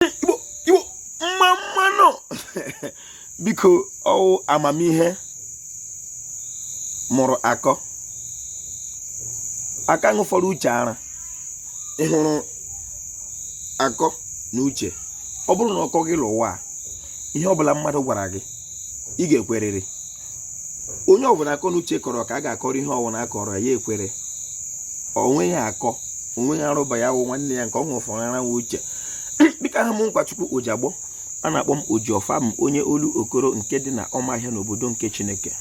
igbo igbo mma mma nụ biko ọ wụ amamihe mụrụ akọ akọ ṅụfọrọ uche ara ị hụrụ akọ na uche ọ bụrụ na ọ kọọ gị l'ụwa ihe ọbụla mmadụ gwara gị ị ga-ekwerịrị onye ọbụla akọ na uche kọrọ ka a ga-akọrọ ihe ọbụla a kọọrọ ya ekwere onwe ya akọ onwe ya arụba ya wụ nwanne ya nke ọ ṅụfọrọ ara nwa uche dịka aha m nkwachukwu ojiagbọ a na-akpọ m ojiọfọ m onye Olokoro nke dị na ọmahịa n'obodo nke chineke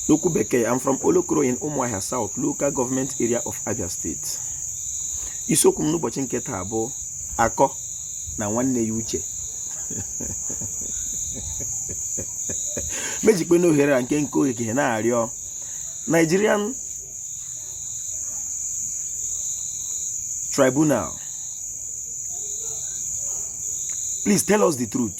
n'okwu bekee I'm from Olokoro in Umuahia South local government area of Abia State isiokwu m n'ụbọchị nke taa bụ akọ na nwanne ya uche mejikpe n'ohere a nke nke ogige na-arịọ Nigerian tribunal please tell us the truth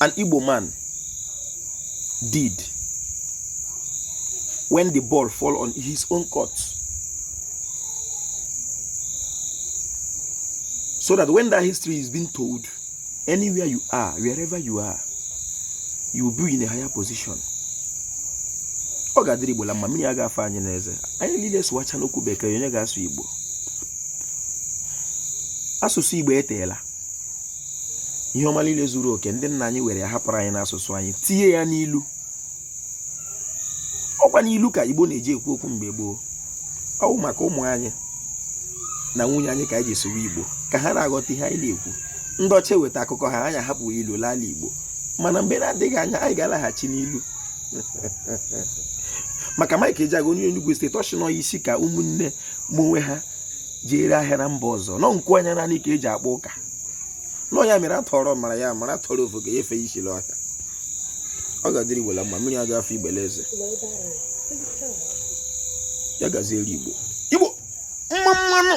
an Igbo man did when the ball fall on his own court so that when that history is being told anywhere you are wherever you are you will be in a higher position ọ ga-adịrị Igbo la mma mmiri a ga-afa anyị n'eze anyị niile sụwacha n'okwu bekee onye ga-asụ Igbo asụsụ Igbo eteela ihe ọma niile zuru oke ndị nna anyị were hapụrụ anyị n'asụsụ anyị tinye ya n'ilu ọ kwa n'ilu ka Igbo na-eji ekwu okwu mgbe gboo ọ wụ maka ụmụ anyị na nwunye anyị ka anyị ji sụwa Igbo ka ha na-aghọta ihe anyị na-ekwu ndị ọcha weta akụkọ ha anyị ahapụ ilu l'ala Igbo mana mgbe na-adịghị anya anyị ga-alaghachi n'ilu maka Mike Ejeagha onye Enugu steeti ọ sị na isi ka ụmụnne ma onwe ha ji ere ahịa na mba ọzọ na ọ nku anya naanị ka e ji akpa ụka na ọ ya mere a tụọrọ ọmara ya amara a tụọrọ ofeke ya efe isi l'ọhịa ọ ga-adịrị igbo la mma mmiri a ga-afa igbo l'eze ya gaziere igbo igbo mma mma nụ